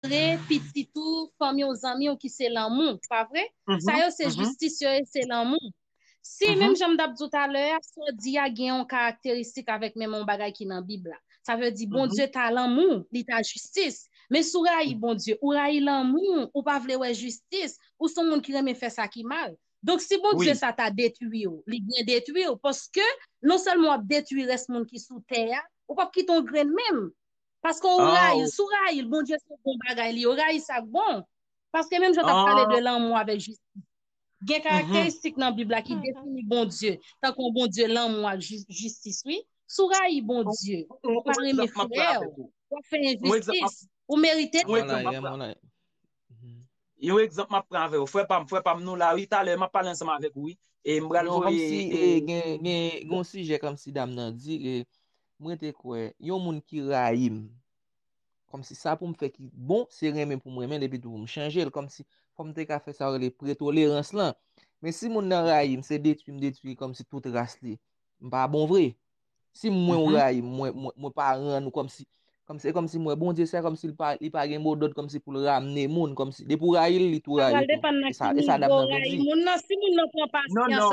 Montre pitit ou, fanmi w, zanmi w ki se lanmou, pa vre? Sa yo se jistis yo e se lanmou. Si, menm jan m t ap di w talè a, sa w di a gen yon karakteristik avèk menm yon bagay ki nan Bib la, sa vle di Bondye ta lanmou, li ta jistis. Men si w rayi Bondye, ou rayi lanmou, ou pa vle wè jistis, ou s on moun ki renmen fè sa ki mal. Donk, si Bondye sa ta detwi w, li byen detwi w, paske nonsèlman w ap detwi rès moun ki sou tè a, ou pap kite yon grenn menm. Paske ou rayi l, si w rayi l, Bondye se bon bagay li, ou rayi sa k bon. Paske menm jan w t ap pale de lanmou avèk jistis, gen karakteristik nan Bib la ki defini Bondye, tankou yon Bondye lanmou ak jistis wi. Si w rayi Bondye, ou pa renmen frè ou, w ap fè enjistis, ou merite lanmou. Yon egzanp m ap pran avè ou, frè pa m, frè pa m nou la wi, talè m ap pale ansanm avèk ou wi. Non, kòmsi gen yon sijè kòmsi dam nan di, M rete kwè yon moun ki rayi m, kòmsi sa pou m fè ki bon, se renmen pou m renmen l epi tou pou m chanje l, kòmsi fò m te ka fè sa yo rele pretolerans lan. Men si moun nan rayi m, se detwi m detwi li kòmsi tout ras li, m pa bon vre. Si mwen ou rayi m, mwen pa rann ou kòmsi, se kòmsi m wè Bondye se kòmsi li pa gen modòd kòmsi pou l ramne moun, kòmsi depi ou rayi l, li tou rayi ou tou. E sa dam nan vle di. Non, non.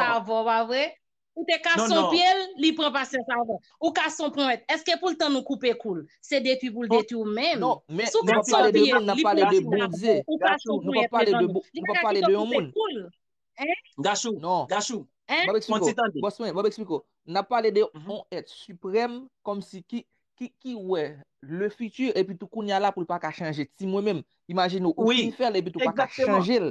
Ou te ka son pye l, li pran pasyans avan. Ou ka son ponwèt. Eske pou l tann ou koupe kou l? Se detwi pou l detwi w menm. Non, men, nou pa pale de moun, nan pale de Bondye. Gachou, nou pa pale de moun, nou pa pale de yon moun. Gachou, Gachou, pon ti tande. Bòs mwen, bòs mwen, nan pale de yon et suprèm, kòm si ki, ki, ki wè le fiti, epi tou kounye a la pou l pa ka chanje. Ti mwen menm, imajine ou, ou fin fè l, epi tou pa ka chanje l.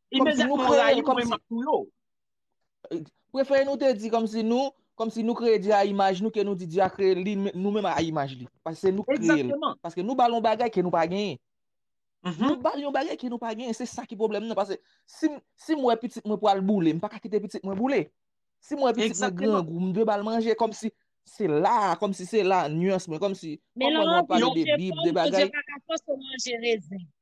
Kòm si nou kreye l, kòm si. Prefere nou te di kòm si nou, kòm si nou kreye Dye a imaj nou ke nou di Dye a kreye li nou menm a imaj li. Paske se nou ki kreye l. Paske nou ba l yon bagay ke nou pa genyen. Nou ba l yon bagay ke nou pa genyen. Se sa ki pwoblèm nan. Paske si m wè pitit mwen pral boule, m pa ka kite pitit mwen boule. Si m wè pitit mwen grangou, m dwe ba l manje. Kòm si se la, kòm si se la nuance mwen. Kòm si, kòm mwen mwen pale de bib, de bagay. Men lan anvi, yon chèf fòm, Bondye pa ka fòse w manje rezen.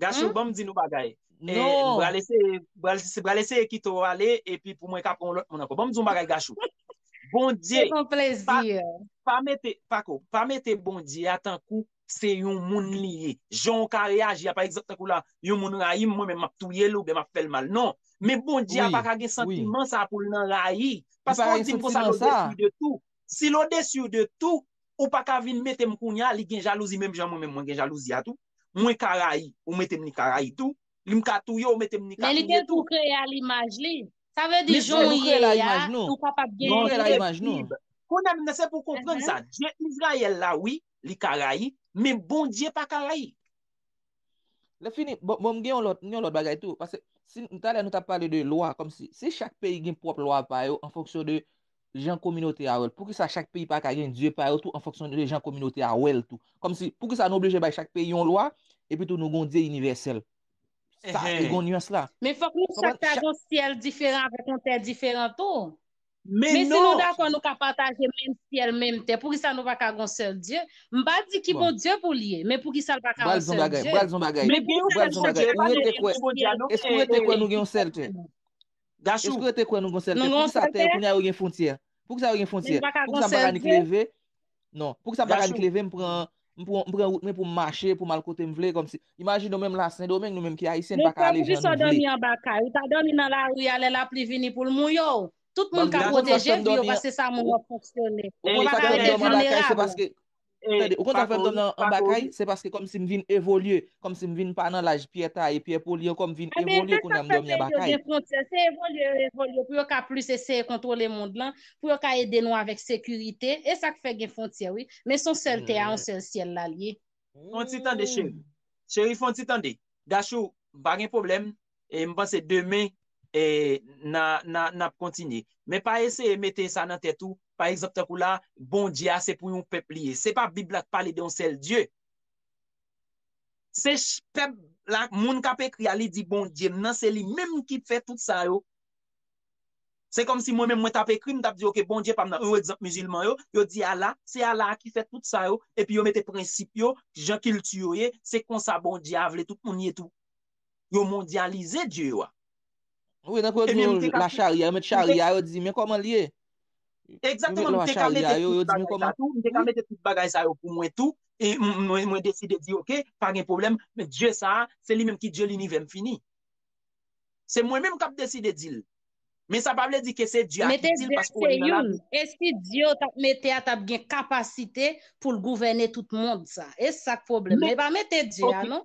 Gacho banm di nou bagay. Non. Bral eseye, bral eseye kite ou ale epi pou mwen ka pran lòt moun ankò. Banm di ou bagay Gacho. Bondye. Se yon plezi. Pa mete, pako, pa mete Bondye a tankou se yon moun li ye. Jan ou ka reyaji a pa egzanp tankou la, yon moun rayim mwen men map touye l oubyen map fè l mal. Non. Men Bondye a pa ka gen santiman sa pou l nan rayi. Paske ou dim konsa l odesir de tou. Si l odesir de tou, ou pa ka vin mete m kounya li gen jalouzi menm jan mwen menm mwen gen jalouzi a tou. Mwen ka rayi, ou mete m ni ka rayi tou. Li m ka touye, ou mete m ni ka touye tou. Men li te tou kreye a limaj li. Sa vle di jan w ye a, ou kapab gen yon kreyib. Kounye a menm nan se pou w konprann sa. Dye Izrayèl la wi, li ka rayi, men Bondye pa ka rayi. Lè fini, bon m gen yon lòt, m gen yon lòt bagay tou. Pase, si, talè nou t ap pale de lwa, kòmsi, si chak peyi gen pwòp lwa pa yo, an fonksyon de, jan kominote a wè l. Poukisa chak peyi pa ka gen dye pa yo tou an fonksyon de jan kominote a wè l tou? Kòm si, poukisa nou oblije bay chak peyi yon lwa, epi tou nou gen yon dye inivèsèl? Sa, li gen yon nuans la. Men fòk nou chak ta gen yon syèl diferan avèk yon tè diferan tou. Men si nou dakò nou ka pataje menm syèl, menm tè, poukisa nou pa ka gen yon sèl Dye? M pa di ki Bondye pou l ye, men poukisa l pa ka yon sèl Dye? M pral di yon bagay, m pral di yon bagay, ou rete kwè, èske ou rete kwè nou gen yon sèl tè? Gachou. Eske yo te kwè nou gon sèl tè? Pou kisa tè kounye a yo gen fontyè? Pou kisa yo gen fontyè? Pou kisa m paka nik leve? Non. Pou kisa m paka nik leve m pran m pran wout mwen pou m mache pou m al kote m vle kòmsi. Imajine w menm la sendomeng nou menm ki ayisyen n paka ale jan nou vle. Men frè m pou kisa w dòmi anba kay? Ou ta dòmi nan lari a lè lapli vini pou l mouye w? Tout moun ka pwoteje vi yo paske sa moun yo fonksyone. Ou paka rete vilnerab. Tande, ou konn sa k fè m tonbe anba kay? Se paske kòmsi m vin evolye, kòmsi m vin pa nan laj pyè taye, pyè poli ankò, m vin Enben, evolye se sa kounya k m fè dòmi peyi anba yo kay. gen fwontyè. Se evolye yo evolye pou yo ka plis eseye kontwole mond lan, pou yo ka ede nou avèk sekirite. E sa k fè gen fwontyè wi. Men son sèl tè a, on sèl syèl la l ye. Fon ti tande cheri. Cheri fon ti tande. Gachou, m pa gen pwoblèm. e m panse demen e nan ap kontinye men pa eseye mete sa nan tèt ou pa egzanp tankou la bondye a se pou yon pèp li ye se pa bib la k pale de yon sèl dye se pèp la moun k ap ekri a li di bondye m nan se li menm ki fè tout sa yo se kòm si mwen menm mwen t ap ekri m t ap di ok bondye pa m nan yon egzanp mizilman yo yo di ala se ala a ki fè tout sa yo epi yo mete prensip yo jan kilti yo ye se konsa bondye a vle tout moun ye tou. Yo mondyalize Dye yo a. Wi, nan kwen gen yon la charya, yo met charya, yo di, men koman li ye? Ekzakteman, mwen te ka mete tout bagay sa tou, mwen te ka mete tout bagay sa yo pou mwen tou, e mwen deside di, ok, pa gen pwoblèm, men Dye sa, se li menm ki Dye linivè, m fini. Se mwen menm k ap deside di l. Men sa pa vle di ke se Dye a ki di l, paske ou wè li nan labib. Mete Dye se youn, e si Dye yo t ap mete a t ap gen kapasite pou l gouvène tout mond sa? E sa k pwoblèm la? E pa mete Dye a non.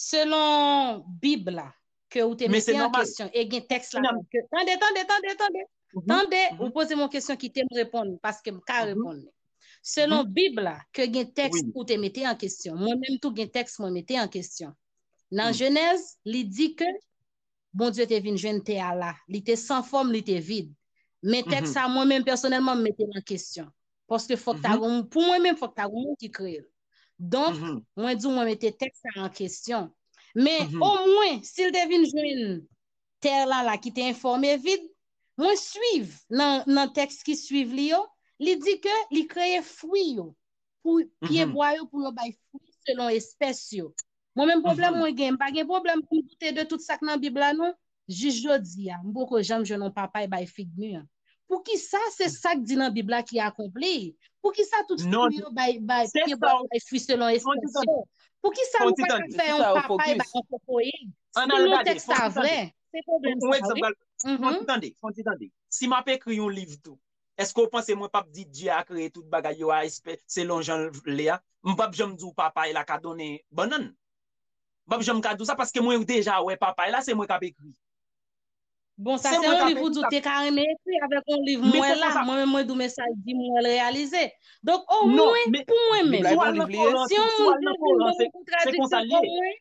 Selon bib la ke ou te mete an kesyon e gen teks la. Tande, tande, tande, tande. Tande, ou pose mwen kesyon ki te m reponn paske m ka reponn. Selon bib la ke gen teks ou te mete an kesyon. Mwen menm tou gen teks mwen mete an kesyon. Nan jenèz li di ke Bondye te vin jwenn tè a la. Li te san fòm, li te vid. Men tèks sa mwen menm pèsonèlman m mete l an kesyon. Paske fòk ta gon moun, pou mwen menm fòk ta gon moun ki kreye l. Donk, mwen di w mwen mete tèks sa an kesyon. Men, omwen, si l te vin jwenn tè la la ki te enfòm e vid, mwen suiv nan tèks ki suiv li yo, li di ke li kreye fwi yo, pou pyebwa yo pou yo bay fwi selon espès yo. Mwen menm pwoblèm mwen gen, m pa gen pwoblèm pou m doute de tout sa k nan Bib la non. Jis jodi a, m poko janm jwenn yon papay bay fig mi an. Poukisa se sa k di nan Bib la ki akonpli? Poukisa tout fwi yo bay pye bwa yo bay fwi selon estansyon? Poukisa nou pa ka fè yon papay bay yon kokoye? Si nou tèks sa vrè, se pwoblèm sa a wi. Fon ti tande, fon ti tande. Si m ap ekri yon liv tou, Eske ou panse mwen pap di Dye a kreye tout bagay yo a espè selon jan l vle a? M pap janm di w papay la ka donnen bannann. M pap janm ka di w sa paske mwen deja wè papay la, se mwen k ap ekri. Bon, sa se yon liv ou di w te ka renmen ekri avèk yon liv m wè la, mwen menm mwen di w men sa l di m wè l reyalize. Donk omwen pou mwen menm, si yon moun te di m gen yon kontradikte pou mwen,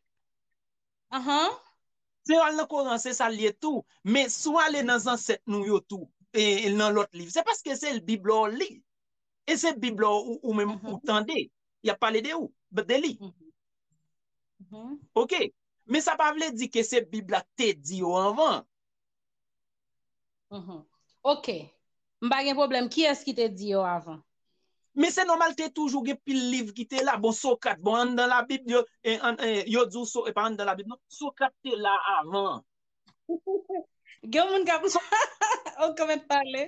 Ahan. Se al nan koran se sal ye tou, men si w ale nan zansèt nou yo tou, e nan lòt liv, se paske se bib la w li, e se bib la ou menm ou tande, y ap pale de ou, de li. Ok, men sa pa vle di ke se bib la k te di yo anvan. Ok, m pa gen pwoblèm, kiyès ki te di yo avan? Men se nòmal te toujou gen pil liv ki te la, bon Socrate, bon an nan labib yo, yo di w so, e pa an nan labib non, Socrate te la avan. Gen yon moun k ap, ok mèt pale.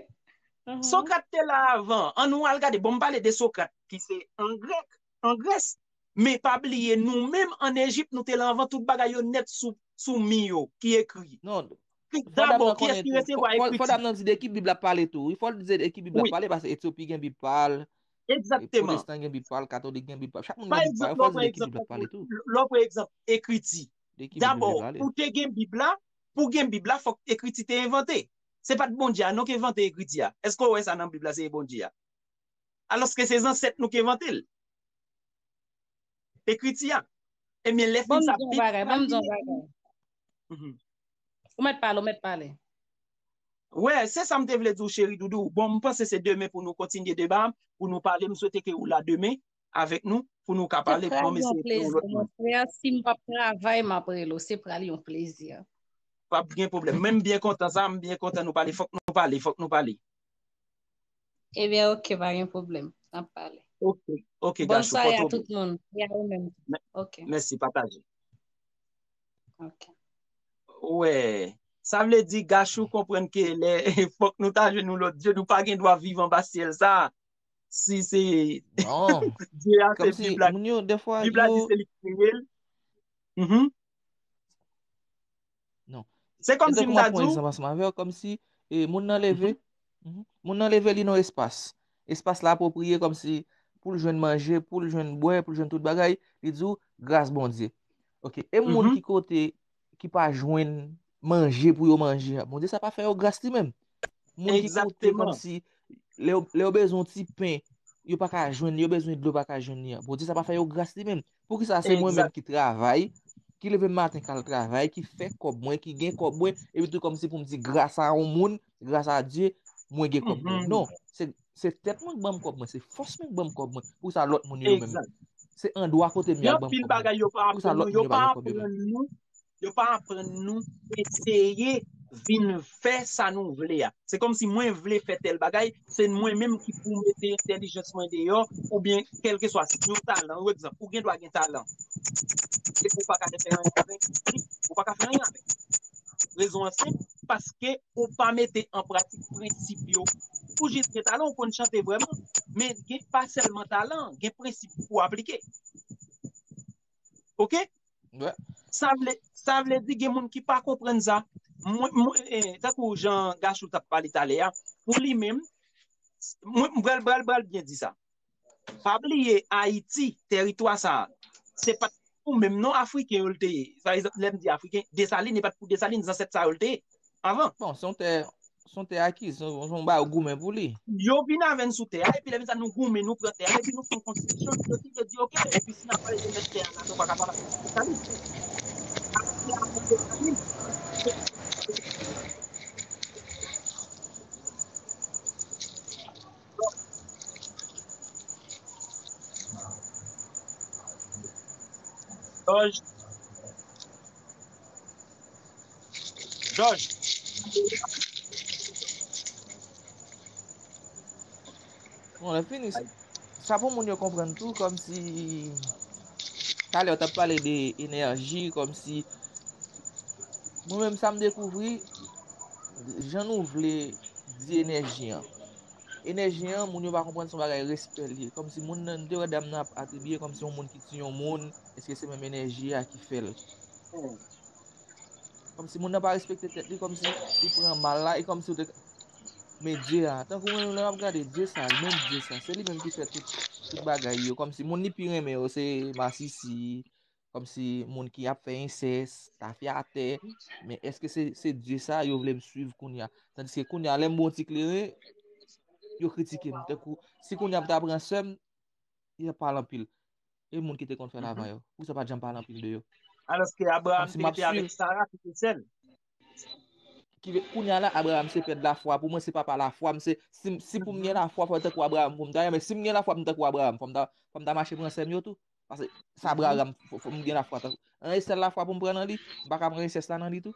Socrate te la avan, an nou al gade, bon m pale de Socrate ki se an grèk. an Grès, men pa bliye nou menm an Ejip nou te la anvan tout bagay yo nèt sou mi yo ki ekri. Non, fò dam nan konnen tou, fò dam nan di de ki bib lap pale tou wi, fòl di se de ki bib lap pale paske Etyopi gen bib pa l, pwotestan gen bib pa l, katolik gen bib pa l, chak moun gen bib pa l, fòl di de ki bib lap pale tou. Lò pran egzanp ekriti, dabò pou te gen bib la, pou gen bib la fòk ekriti te envante, se pat Bondye a non ki envante ekriti a, èske w wè sa nan bib la se Bondye a? Alòske se zansèt nou ki envante l. Ekriti a. Ebyen lè fin sa bib la. Banm di yon bagay. Ou mèt pale, ou mèt pale. Wè, se sa m te vle di w cheri doudou. Bon, m panse se demen pou nou kontinye deba a, pou nou pale. M swete ke ou la demen. avèk nou pou nou ka pale pou mwen eseye fè yon lòt moun. Se pral yon plezi mwen frè, si m pa p travay m ap rele w, se pral yon plezi. Pa p gen pwoblèm, men m byen kontan sa, m byen kontan nou pale, fòk nou pale, fòk nou pale. Ebyen ok, pa gen pwoblèm, n ap pale. Ok, ok Gachou, pòte w byen. Bòn sware a tout moun, e a ou menm tou. Mèsi, pataje. Ok. Wè, sa vle di Gachou konprann ke lè fòk nou ta jwenn yon lòt djòb, nou pa gen dwa viv anba syèl sa, si se Dye a se bib la bib la di se li ki kreye l se kom si m ta di w kom si moun nan leve moun nan leve li nan espas espas la apopriye kom si pou l jwenn manje pou l jwenn bwe pou l jwenn tout bagay li di w gras bondye e moun ki kote ki pa jwenn manje pou yo manje a, Bondye sa pa fè yo gras li menm? Moun ki kote kòm si lè yo bezwen ti pen, yo pa ka jwenn li, yo bezwen dlo pa ka jwenn li a, Bondye sa pa fè yo gras li menm? Pou ki sa se mwen menm ki travay, ki leve maten kal travay, ki fè kòb mwen, ki gen kòb mwen, epi tou kòm si pou m di gras a yon moun, Gras a Dye, mwen gen kòb mwen. Non, se tèt mwen k banm kòb mwen, se fòs mwen k banm kòb mwen. Pou sa lòt moun yo menm. Se andwa kote m yal banm kòb mwen. Pou sa lòt moun yo pa gen kòb yo menm. Yo pa aprann nou eseye vin fè sa nou vle a. Se kòm si mwen vle fè tèl bagay, se mwen menm ki pou mete entèlijans mwen deyò, oubyen kèlke swa si yon talan, yon egzanp, ou gen dwa gen talan. Ou pa ka fè anyen avèk. Rezon an senp, paske ou pa mete an pratik prensip yo. Pou jis gen talan ou konn chante vrèman, men gen pa sèlman talan, gen prensip pou ou aplike. Ok? Sa vle, sa vle di gen moun ki pa konprann sa. Mwen, mwen, eh, tankou jan Gachou tap pale talè a, pou li menm, mwen, mwen pral, pral, pral byen di sa. Pa bliye Ayiti, teritwa sa a, se pa t pou menm non Afriken yo l te ye. Sa vle di, lè m di Afriken, Desalin, e pa t pou Desalin, zansèt sa yo l te ye avan. Bon, se yon tè, se yon tè akiz, se yon bagay yo goumen pou li. Yo vin avè n sou tè a, epi lè vin sa nou goumen, nou pran tè a, epi nou fè yon konstitisyon ki deside di ok, epi si n ap pale de mèt tè a la, nou pa ka pa pale de Desalin. Ayiti avan Desalin, se pa t gen. Bon lè fini sa. Sa pou moun yo konprann tou kòm si talè ou tap pale de enèji kòm si mwen menm sa m dekouvri jan nou vle di enèji an. Enèji an, moun yo pa konprann se yon bagay respè l ye. Kòmsi moun nan, m te wè dam nan ap atribiye kòmsi yon moun ki tiye yon moun, èske se menm enèji a ki fè l. Kòmsi moun nan pa respekte tèt li, kòmsi li pran mal la, e kòmsi yo te ka. Men Dye a, tankou menm lè wap gade Dye sa, menm Dye sa, se li menm ki fè tout bagay yo, kòmsi moun li pi renmen yo se masisi, Kom si moun ki ap fè insès, ta fè atè, men eske se Diyo sa yo vle m suiv koun ya. San diske koun ya, lèm bon ti kleren, yo kritike m. Te kou, si koun ya m ta pran sèm, yo pale anpil. E moun ki te kon fè lavan yo, pou sa pa djanm pale anpil de yo. Aloske Abraham te te avèk Sarah ki te sèl. Koun ya la, Abraham se pèd la fwa. Pou mwen se pa pa la fwa. Si pou m gen la fwa, fwa te kou Abraham pou m ta. Mwen si m gen la fwa pou m te kou Abraham, fwa m ta mache pran sèm yo tou. Pase sa bra ram fòm gen la fwa tankou. An esèl la fwa pou m pran nan li, m pa ka pran esès la nan li tou.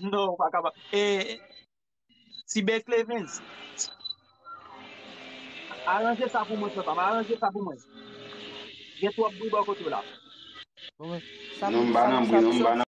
Non, ou pa ka pa. E, ti bè Clemens, aranje sa pou mwen frè pa m, aranje sa pou mwen. Gen twòp bri bò kote w la. Bon men, sa pou sa pou sa.